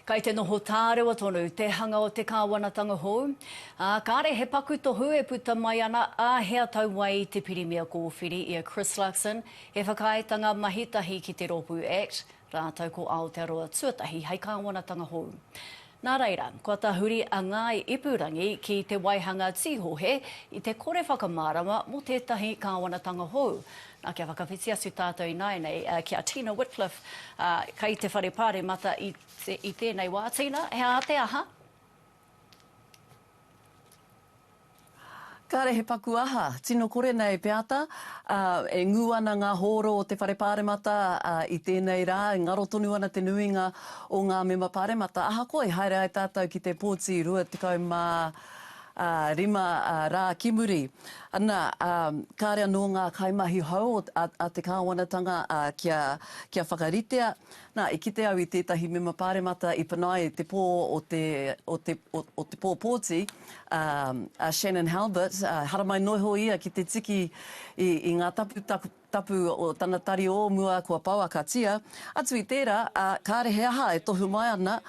Kei te noho tārewa tonu te hanga o te kāwanatanga hou, ā, kāre he paku tohu e puta mai ana, ā, he atau wai i te Pirimia Kōwhiri, i a Chris Luxon, he whakaaetanga mahi tahi ki te rōpū act, rātou ko Aotearoa tuatahi hei kāwanatanga hou. Nā reira, kua tahuri a Ngāi Ipurangi ki te waihanga tīhohe i te kore whakamārama mō tētahi kāwanatanga hou, Na, kia whakawhiti atu tātou ināianei ki a Tina Whitcliffe, kei te whare Pāremata i tēnei wā. Tina, he aha te aha? Kāre he paku aha, tino kore nei Peata, e ngū ana ngā hōro o te Whare Pāremata i tēnei rā, e ngaro tonu ana te nuinga o ngā mema Pāremata. Ahakoa i haere ai tātou ki te Pōti 28, ā, rima rā ki muri. Ana, ā, kāre anō ngā kaimahi hou a te kāwanatanga kia whakaritea. Nā, i kite au i tētahi mema pāremata i panaia te pō o te pōpōti, a Shannon Halbert, haramai noho ia ki te tiki i ngā tapu Tapu o tana tari o mua kua pouakatia, atu i tērā, ā, kāre he aha e tohu mai ana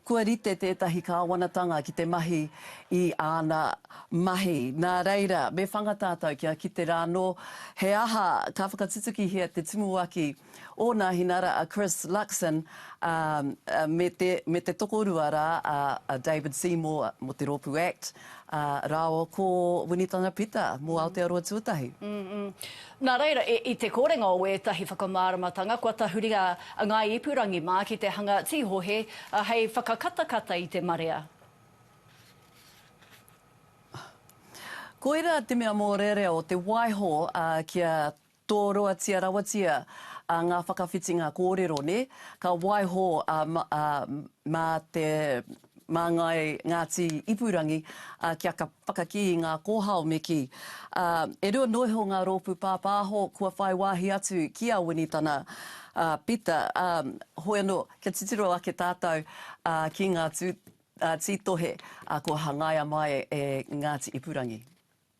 kua rite tētahi kāwanatanga ki te mahi i āna mahi. Nā reira, me whanga tātou kia kite rānō he aha ka whakatutukihia te tumuaki o Nāhinara a Chris Luxon, ā, me te tokorua rā a David Seymour mō te rōpū act. Ā, rāo ko Winitanga Pita mō Aotearoa Tuatahi. Nā reira, i te korenga o ētahi whakamāramatanga, kua tahuri a Ngāi Ipurangi mā ki te hanga tīhohe hei whakakatakata i te marea. Koirā te mea mōrearea o te waiho kia Toroatia rawatia a nga whakawhitinga korero ne, ka waiho a ma te Mangai Ngati Ipurangi a kia whakaki i nga kohao me ki. A, e rua noa iho nga ropu papaho kua whai wahi atu ki a Winitana a Pita, a, hoi ano kia titiro ake tatou a ki nga tu, a, ti tohe a kua hangaia mai e Ngati Ipurangi.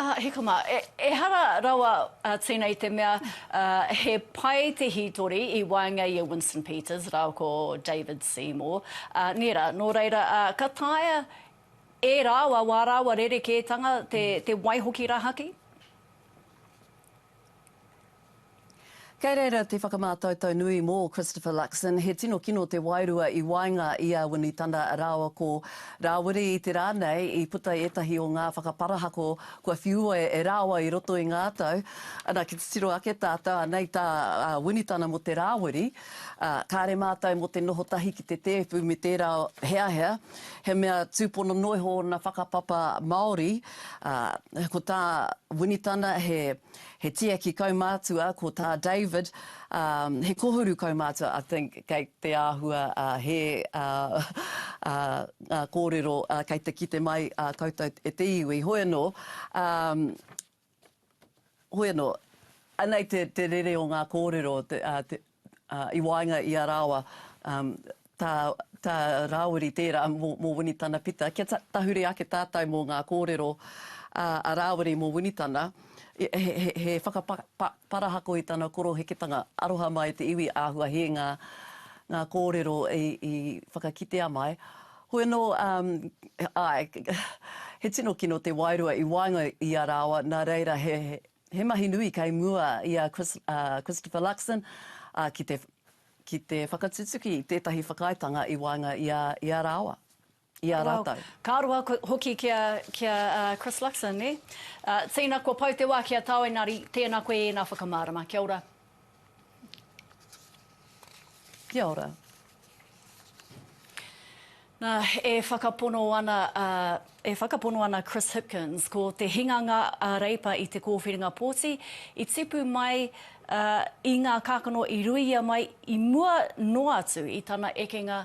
Hikama, Ehara rawa tēnei i te mea he pai te hītori i waenga i a Winston Peters rāua ko David Seymour, nērā, nō reira, ka taea e rāua wā rāua rerekētanga te waihoki rahaki? Kei reira te whakamātautau nui mō Christopher Luxon, he tino kino te wairua i waenga i a Winitana rāua ko Rāwiri i te rā nei i puta ētahi o ngā whakaparahako kua whiua e rāua i roto i ngā tau. Ana, ki te tiro ake tātou, anei tā Winitana mō te Rāwiri, kāre mātou mō te noho tahi ki te tēpu me tērā heahea, he mea tūpono noa iho ōna whakapapa Māori, Ā, ko tā Winitana he, he tiaki kaumātua, ko tā David, ā, he kōhuru kaumātua, I think, kei te āhua, ā, hē, ā, ā, ngā kōrero, ā, kei te kite mai, ā, koutou e te iwi. Hoi anō, ā, hoi anō, anei te, te rere o ngā kōrero, te, ā, te, i waenga i a rāua, tā, tā Rāwiri tērā mō, mō Winitana Pita, kia tahuri ake tātou mō ngā kōrero a, a Rāwiri mō Winitana, he, he, he whakaparahako i tana koroheketanga, aroha mai i te iwi, āhua hē ngā, ngā kōrero i, i whakakitea mai. Hoi anō, āe, he tino kino te wairua i waenga i a rāua, nā reira he, He mahi nui kei mua i a Christopher Luxon ki te whakatutuki i tētahi whakaaetanga i waenga i a rāua, i a rātou. Ka roa hoki ki a Chris Luxon, nē? Tīna kua pau te wā ki a tāu engari tēna koe i ēnā whakamārama. Kia ora. Kia ora. Na, e whakapono ana a, e whakapono ana Chris Hipkins, ko te hinganga a Reipa i te kōwhiringa pōti, i tipu mai a, i ngā kākano i ruia mai i mua noa atu i tana ekenga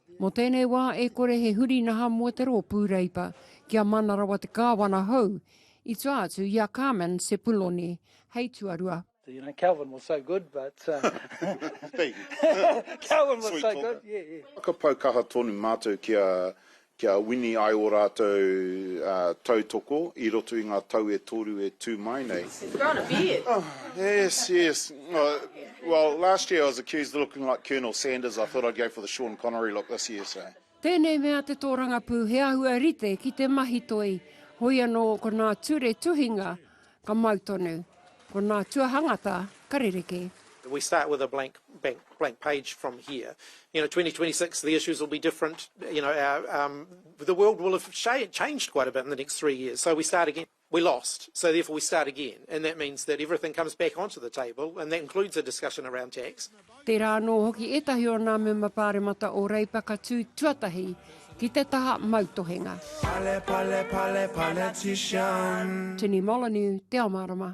Mō tēnei wā e kore he huri naha mō te rōpū Reipa kia mana rawa te kāwana hou, i tua atu i a Carmen Sepuloni hei tuarua. You know, Calvin was so good, but Thank you. Calvin was so good, yeah, yeah. Whakapau kaha tonu mātou kia, kia wini ai ō rātou tautoko i roto i ngā tau e toru e tū mai nei. He's growing a beard. Yes, yes. Well last year I was accused of looking like Colonel Sanders I thought I'd go for the Sean Connery look this year so. Tēnei mea te tōrangapū he āhua rite ki te mahi toi, hoi anō ko nā ture tuhinga ka mau tonu, ko nā tuahangata ka rerekē. We start with a blank bank blank page from here you know 2026 the issues will be different you know our um the world will have changed quite a bit in the next three years so we start again. we lost, so therefore we start again, and that means that everything comes back onto the table, and that includes a discussion around tax. Tērā anō hoki ētahi o nā mema pāremata o Reipa ka tū tuatahi ki te taha mautohenga. Pale, pale, pale, politician. Tini Molyneux, Te Ao Mārama.